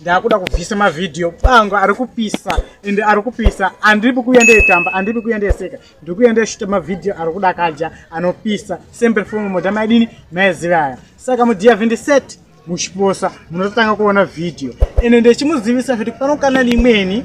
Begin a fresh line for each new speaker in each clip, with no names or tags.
ndakuda kubvisa mavhidhiyo pangu ari kupisa and ari kupisa andipi kuuya ndeyetamba andipi kuuya ndeyeseka ndiri kuuya ndeyeshuta mavhidhiyo ari kudakaja anopisa sembe fom moda maidini maizivaya saka mudiya 27 muchiposa munototanga kuona vhidhiyo ende ndichimuzivisa kuti pano kana limweni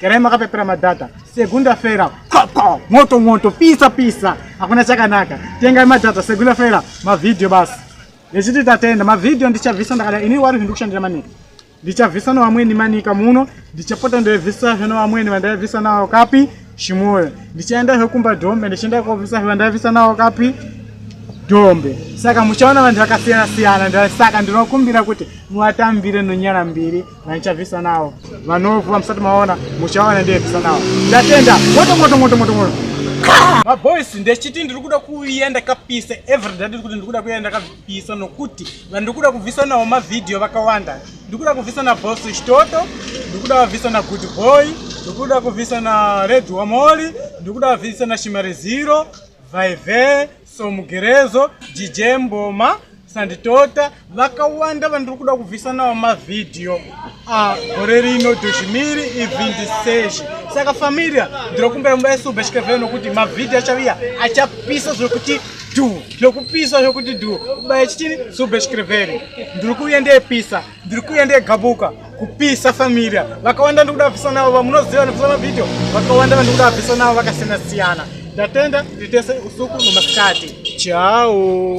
Kerai makapepera madhata segunda fera koko moto moto pisa pisa hakuna chakanaka tengai madhata segunda fera mavhidhiyo basi nechiti tatenda mavhidhiyo ndichabvisa ndakada ini wari zvindi kushandira manika ndichabvisa nevamweni manika muno ndichapota ndaivhisa zve nevamweni vandaivhisa navo kapi chimoyo ndichaenda zve kumba dombe ndichienda kovhisa zve vandaivhisa navo kapi dombe saka muchaona vanhu vakasiyana siyana saka ndinokumbira kuti muvatambire nonyara mbiri nanichabvisa nawo vanofu vamusati maona muchaona ndiyebvisa nawo ndatenda moto moto moto moto moto maboys ndechiti ndiri kuda kuuya ndakapisa everyday ndiri kuti ndiri kuda kuuya ndakapisa nokuti vandiri kuda kubvisa nawo mavhidhiyo vakawanda ndiri kuda kubvisa nabos chitoto ndiri kuda vabvisa nagood boy ndiri kuda kubvisa nared wamoli ndiri kuda vabvisa nashimari zero vaive so mugerezo dj mboma sanditota vakawanda vandiri kuda kubvisa nawo mavhidhiyo ah, gore rino dozhimiri ivhindiseshi saka familia ndiri kumbira mumba yesube chikevee nokuti mavhidhiyo achaviya achapisa zvekuti du zvekupisa zvekuti du ubaya chitini sube chikeveri ndiri kuuya ndeyepisa ndiri kuuya ndegabuka kupisa familia vakawanda ndiri kuda vapisa navo vamunoziva vanopisa mavhidhio vakawanda vandiri kuda vapisa navo vakasiyana siyana ndatenda nditese usuku nomasikati chao